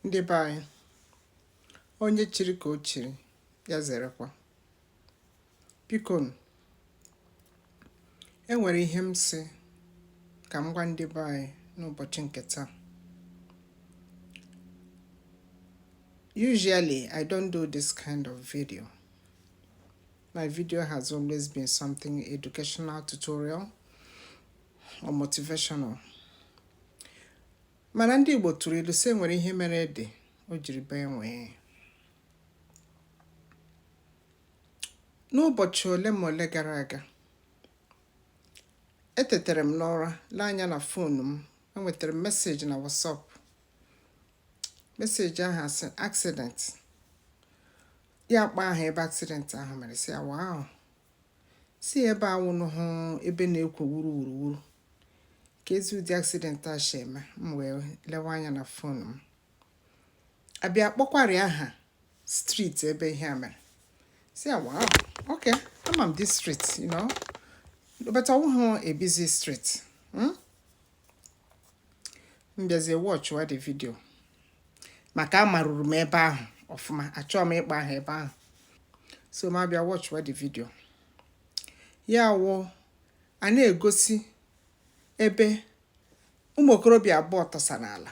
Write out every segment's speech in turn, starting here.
ndị be anyị onye chiri ka o chiri ya zerekwa biko e nwere ihe m sị ka m gwa ndị be anyị n'ụbọchị nke taa usually i don't do this kind of video my video has always been something educational tutorial or motivational mana ndị Igbo tụrụ ilu sị e nwere ihe mere ede o jiri bee nwee n'ụbọchị ole ma ole gara aga etetere m n'ụra lee anya na phone m enwetara m message na WhatsApp message ahụ a sị accident ya akpa aha ebe accident ahụ mere sị ya wow sị ebe a wụnụ hụ ebe na-ekwo wuruwuruwuru keezi ụdị accident a si eme m wee lewe anya na phone m a bịa kpọkwari aha street ebe ihe a mere sị ya wow okay ama m this street you know but ọ wụghị a busy street hmm? m bịazie watchwa the video maka amaruru m ebe ahụ ọfụma achọọ m ịkpa aha ebe ahụ so m abịa watchwa the video ya wụ a na-egosi ebe ụmụ okorobịa abụọ tọsa n'ala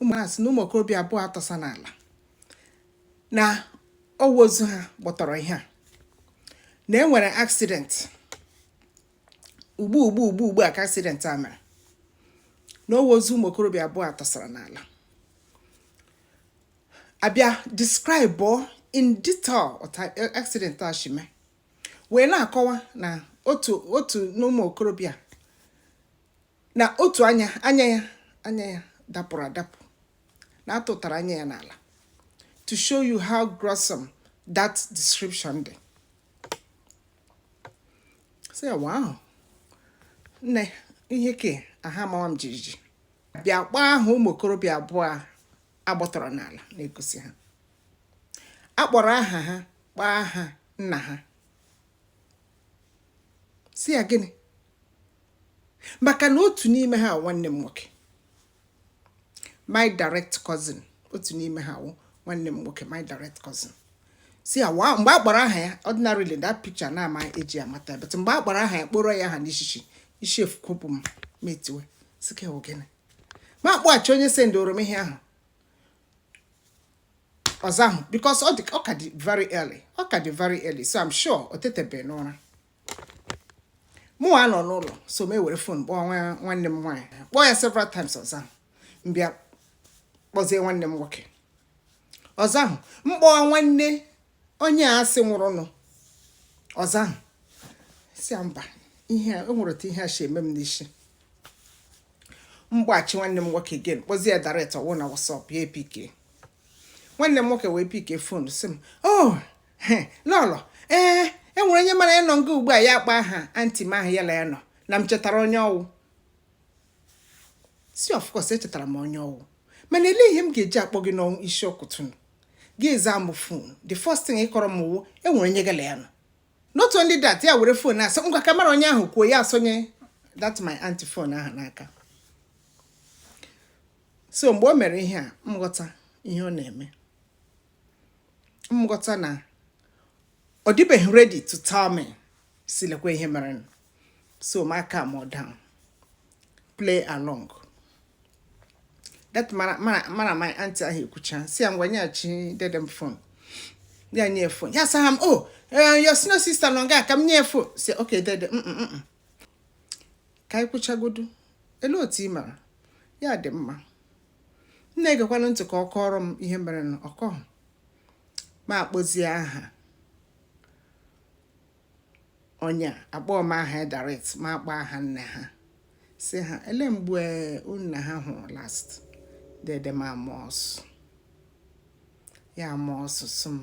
ụmụ na-asị na ụmụ okorobịa abụọ a tọsa n'ala na ọ wụ ozu ha gbọtọrọ ihe a na e nwere accident ugbu ugbu ugbu ugbu a ka accident a mere na ọ wụ ozu ụmụ okorobịa abụọ a tọsara n'ala a bịa describe in detail accident a shi mee wee na-akọwa na otu otu n'ụmụ okorobịa na otu anya anya ya anya ya dapụrụ adapụ na a tụtara anya ya n'ala to show you how gruesome that description dị sị ya wow nne ihe ke a ahụ amawa m jijiji bịa kpaa aha ụmụ okorobịa abụọ a gbọtọrọ n'ala na-egosi ha a kpọrọ aha ha kpọọ aha nna ha sị ya gịnị maka na otu n'ime ha nwanne m nwoke my direct cousin otu n'ime ha wụ nwanne m nwoke my direct cousin sị ya wow mgbe a kpọrọ aha ya ordinarily that picture na a ma eji amata but mgbe a kpọrọ aha ya kpọrọ ya aha n'ishishi isi efukwopụ m m etiwe sị ke wụ gịnị m akpọghachi onye sendoro m ihe ahụ ọ zahụ because ọ ka dị very early ọ ka dị very early so I'm sure o tetebe n'ụra mụ a nọ n'ụlọ so m ewere fon kpọọ nwanne m nwaanyị kpọọ ya several times ọ zahụ m bịa kpọzie nwanne m nwoke ọ zahụ m kpọọ nwanne onye a sị nwụrụnụ ọ zahụ si mba ihe o nwere otu ihe a si eme m n'isi m kpọghachi nwanne m nwoke again kpọzie ya direct ọ wụ na WhatsApp ya epike nwanne m nwoke wee pike fon si m o oh, lọlọ ee e nwere onye mụ la ya nọ nga ugbu a ya akpọ aha anti m ahụ ya la ya nọ na m chetara onye ọ wụ si of course echetara m onye ọ wụ mana ele ihe m ga-eji akpọ gị n'ọnụ isi ụtụtụ nụ gị azaa m fon the first thing ị kọọrọ m wụ e nwere onye gị la ya nọ not only that ya were fon asị ngwa ka mụ la onye ahụ kwuo ya asonye that my aunty fon ahụ n'aka so mgbe o mere ihe a m ghọta ihe ọ na-eme m ghọta na ọ dịbeghị ready to tell me si lekwa ihe mere so ma calmọ down play along that mụ la mụ la mụ la my auntie ahụ ekwucha si ya ngwa nyeghachi dedem fon ya nye fon ya sa ha m o oh, eh, your senior sister nọ nga ka m nye fon si ok dede mm, mm, mm, ka anyị kwuchagodu ele otu ị mara ya dị mma m na-egekwanụ ntị ka ọ kọọrọ m ihe merenụ ọ kọhụ ma akpọzie aha onye akpọhụ m aha ya direct ma akpọ aha nne ha si ha ele mgbe unu na ha hụrụ last dede m ama ọsụ ya ama ọsụ sị m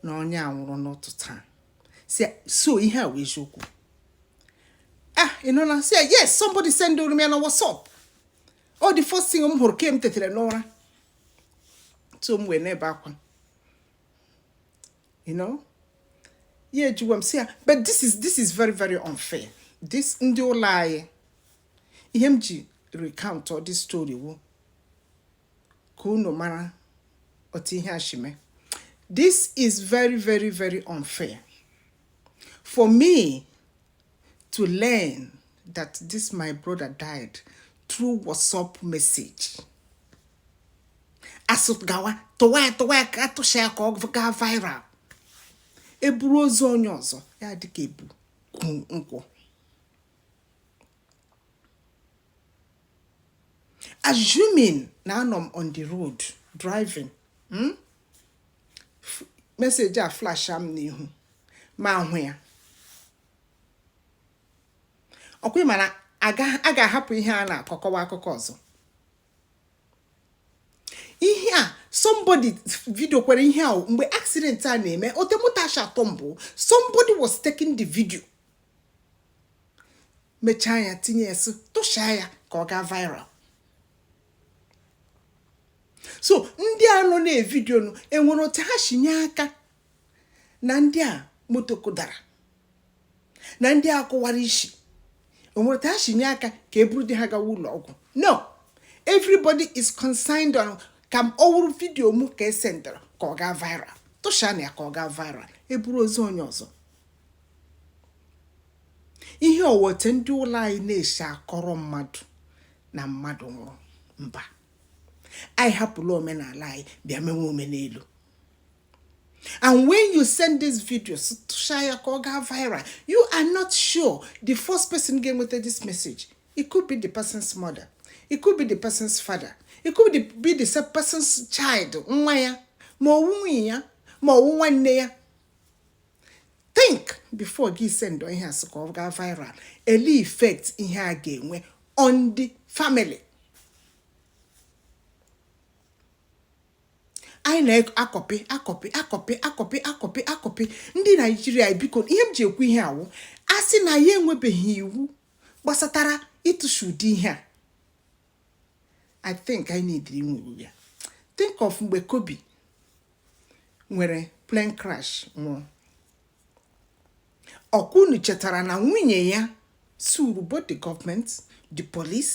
na onye a nwụrụ n'ụtụtụ taa so ihe a wụ eziokwu ah ị nọ na si yes somebody sendụrụ m ya na WhatsApp ọ the first thing m hụrụ ke m tetere n'ụra so m wee na-ebe akwa you know ya ejiwa m si ya but this is this is very very unfair this ndị ụlọ anyị ihe m ji recount all this story wụ ka unu mara otu ihe a shi mee this is very very very unfair for me to learn that this my brother died through WhatsApp message a sị gawa tụwa ya tụwa ya ka a tụcha ya ka ọ gaa viral e buru ozu onye ọzọ ya dịka e bu nkụ assuming na anọ m on the road driving hmm? message a flash m n'ihu ma hụ ya ọkwa ịma na a ga-ahapụ ihe a na-akọkọwa akụkọ ọzọ ihe a somebody vidiokwara ihe a mgbe accident a na-eme otemutasha atọ mbụ somebody was taking the video mechaa ya tinye ya sị tụshaa ya ka ọ gaa viral so ndị a nọ na-evidio nụ enwere otu ha si nye aka na ndị a moto kụdara na ndị a kụwara isi o nwere otu ha si nye aka ka e buru di ha gawa ụlọ ọgwụ no everybody is concerned on ka m ọ wụrụ vidiyo m ka e sendara ka ọ gaa viral tụshaanụ ya ka ọ gaa viral e buru ozu onye ọzọ ihe ọ wụ otu ndị ụlọ anyị na-esi akọrọ mmadụ na mmadụ nwụrụ mba anyị hapụla omenala anyị bịa mewe omenelu and when you send this video tụshaa ya ka ọ gaa viral you are not sure the first person ga-enweta this message it could be the person's mother it could be the person's father it could be the person's child nwa ya ma ọ wụ nwunye ya ma ọ wụ nwanne ya think before gị send ihe a sị ka ọ gaa viral elee effect ihe a ga-enwe on the family anyị na-akọpị akọpị ndị naijiria biko ihe m ji ekwu ihe a wụ a sị na ya enwebeghị iwu gbasatara ịtụsha ụdị ihe a i think i need inwe iwu ya think of mgbe kobe nwere plane crash nwụrụ ọkwa unu chetara na nwunye ya suru both the government the police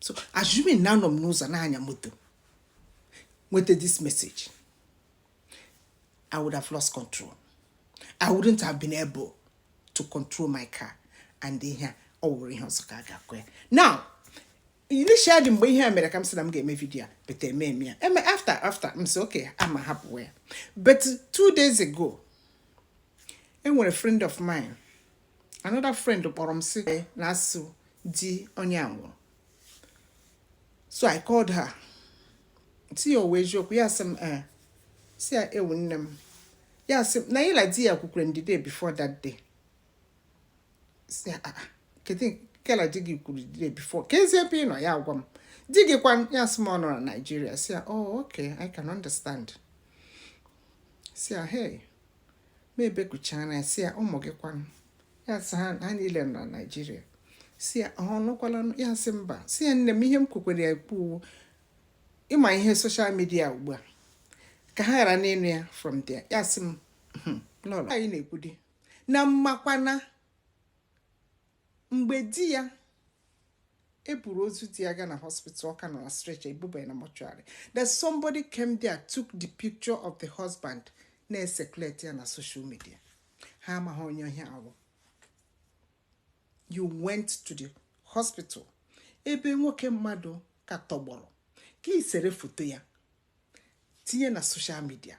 so assuming na anọ m n'ụzọ na-anya moto nweta this message I would have lost control I wouldn't have been able to control my car and ihe ọ wụrụ ihe ọzọ ka a ga-akọ ya now initially mgbe ihe a mere ka m sị na m ga-eme vidio a but eme eme ya eme after after m sị okay ka m hapụwa ya but two days ago enwere friend of mine another friend kpọrọ m sị na a sị di onye a nwụrụ so i called her sị ya ọ wụ eziokwu ya sị m ee sị ya ewoo nne m ya sị na ya la di ya kwukwara the day before that day sị ya ah, ah, kedu gị la di gị kwuru the day before keezi ebe ị nọ ya agwa m di gị kwa ya sị m ọ nọ na Naịjirịa sị ya oh okay i can understand sị ya hey ma ebekuchara ya si ya ụmụ gị kwanụ ya sị ha ha niile nọ na naijiria si ya ha anụkwala ya sị mba si ya nne m ihe m kwukwere ya ekwu ị ma ihe social media ugbu a ka ha ghara ịnụ ya from there ya sị m hmm, n'ụlọ anyị na-ekwudi na m makwa na mgbe di ya e buru ozu di ya gaa na hospital ọ ka nọ na stretcher ebuba ya na mortuary that somebody came there took the picture of the husband na-ecirculate ya na social media ha amaghị onye ihe a wụ you went to the hospital ebe nwoke mmadụ ka tọgbọrọ gị esere foto ya tinye na social media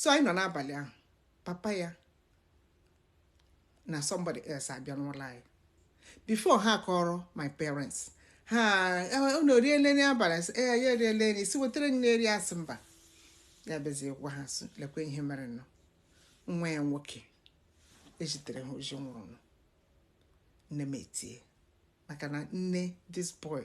so anyị nọ n'abalị ahụ papa ya na somebody else abịa n'ụlọ anyị before ha kọrọ my parents ha unu eriele nri abalị ee ya eriele nri si wetara nri eri a sị mba ya bịazie gwa ha sị lekwa ihe merenụ nwa ya nwoke e zitere ha ozi nwụrụnụ nne m etie maka na nne this boy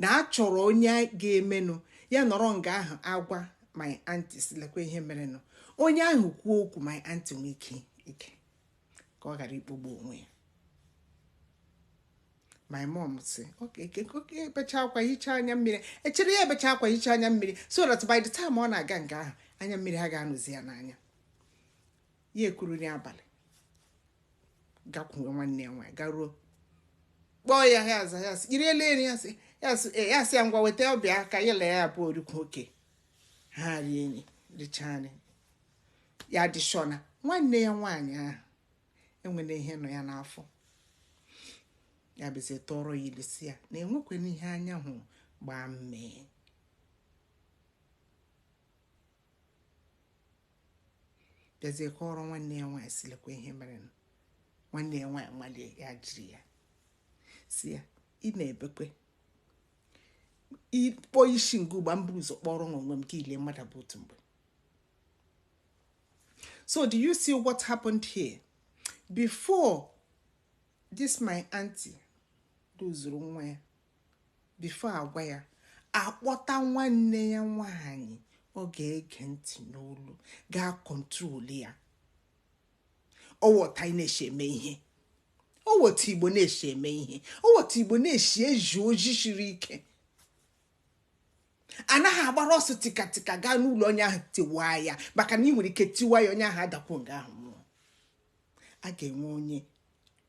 na a chọrọ onye ga-emenụ ya nọrọ nga ahụ agwa my aunty si lekwa ihe merenụ onye ahụ kwuo okwu my aunty nwee ike ike ka ọ ghara ikpogbu onwe ya my mom si ebecha akwa hichaa anya mmiri e chere ya ebecha akwa hichaa anya mmiri so that by the time ọ na-aga nga ahụ anya mmiri aga anọzi ya n'anya ya ekuru n'abalị gakwuwe nwanne ya nwaanyị garuo kpọọ ya ya aza ya sị i riele nri ya sị "Ee, ya sị ya ngwa weta bịa ka ya na ya abụọ rikọọ okay ha rie nri richaa nri ya adị sure na nwanne ya nwaanyị ahụ e nwere ihe nọ ya n'afọ ya bịazie tụọrọ ya ilu si ya na enwekwana ihe anya hụrụ gbaa mmee bịazie kọọrọ nwanne ya nwaanyị si lekwa ihe mere nwanne ya nwaanyị malie ya jiri ya si ya ị na-ebekwe ịkpọ isi nke ugba mbụ ụzọ kpọrọ nwa onwe m ka ile mmadụ bụ otu mgbe so do you see what happened here before this my auntie luzuru nwa ya before a gwa ya a kpọta nwanne ya nwaanyị ọ ga-ege ntị n'olu ga-acontrol ya ọ wụ otu a na-esi eme ihe ọ wụ otu igbo na-esi eme ihe ọ wụ otu igbo na-esi ezi ozi siri ike a naghị agbara ọsọ tikatika gaa n'ụlọ onye ahụ tiwa ya maka na ị nwere ike tiwa ya onye ahụ adakwu nga ahụ a ga-enwe onye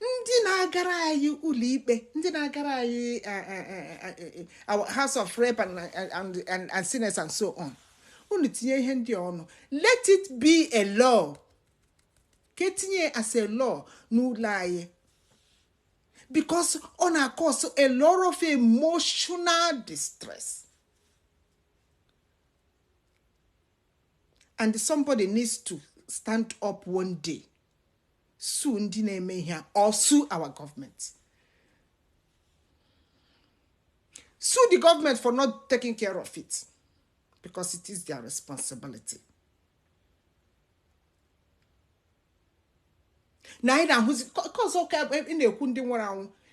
ndị na-agara anyị ụlọikpe ndị na-agara anyị eh, eh, eh, house of rep and senate and so on unu tinye ihe ndị ọnụ let it be a law ka etinye as a law n'ụlọ anyị because ọ na-acause a lot of emotional distress and somebody needs to stand up one day sue ndị na-eme ihe a or sue our government sue the government for not taking care of it because it is their responsibility na anyị na-ahụzi cause ọ ka ị na-ekwu ndị nwụrụ anwụ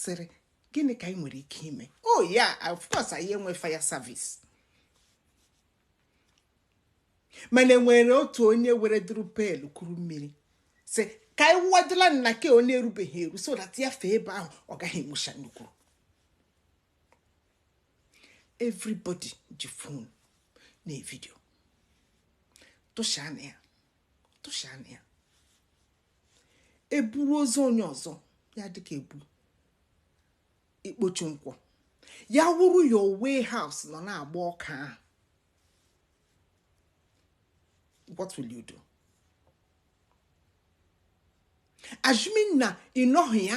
sịrị gịnị ka anyị nwere ike ime oh yeah of course anyị enwe fire service mana enwere otu onye were duru pail kuru mmiri sị ka anyị wụwadịla na nke ọ na-erubeghị eru so that ya fee ebe ahụ ọ gaghị enwucha nnukwu everybody ji phone na video tụshaa na ya tụshaa na ya eburu ozu onye ọzọ ya dịka ebu ikpochi nkwụ ya wụrụ your warehouse nọ na-agba ọkụ ahụ what will you do assuming na ịnọghị ya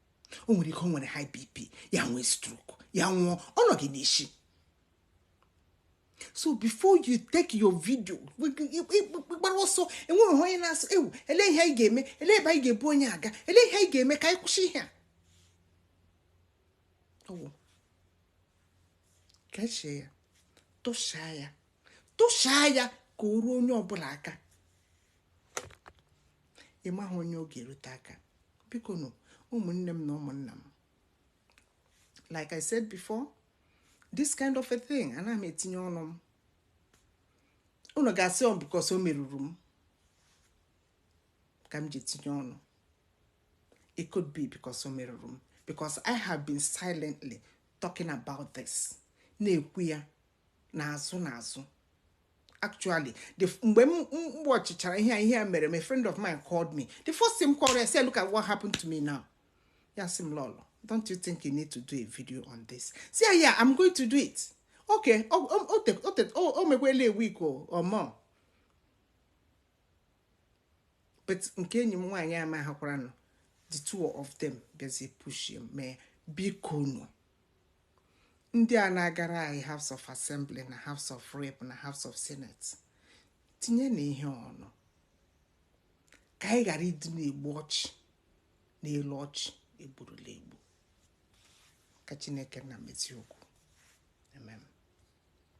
o nwere ike o nwere high bp ya nwee stroke ya nwụọ ọ nọ gị n'isi so before you take your video gbara ọsọ enweghị onye na-asị ewoo ele ihe anyị ga-eme ele ebe anyị ga-ebu onye a gaa ele ihe anyị ga-eme ka anyị kwụsị ihe a kechie ya tụchaa ya tụchaa ya ka o ruo onye ọbụla aka ị maghị onye ọ ga-erute aka bikonụ ụmụnne m na ụmụnna m like i said before this kind of a thing ana m etinye ọnụ m unu ga-asị ọ because o merụrụ m ka m ji etinye ọnụ it could be because o merụrụ m because i have been silently talking about this na-ekwu ya n'azụ n'azụ actually the mgbe m watchịchara ihe a ihe a mere my friend of mine called me the first thing m kọrọ ya sị look at what happened to me now ya sị m lọlọ don't you think you need to do a video on this sị ya yeah i'm going to do it okay o o- o te- o te- o- o mekwela a week o or more but nke enyi m nwaanyị a mehakwaranụ the two of them bịazie pushịa m bikonụ ndị a na-agara anyị House of Assembly na House of Rep na House of Senate tinye na ihe ọnụ ka anyị ghara ịdị na-egbu ọchị n'elu ọchị egburula egbu ka Chineke nna mezie okwu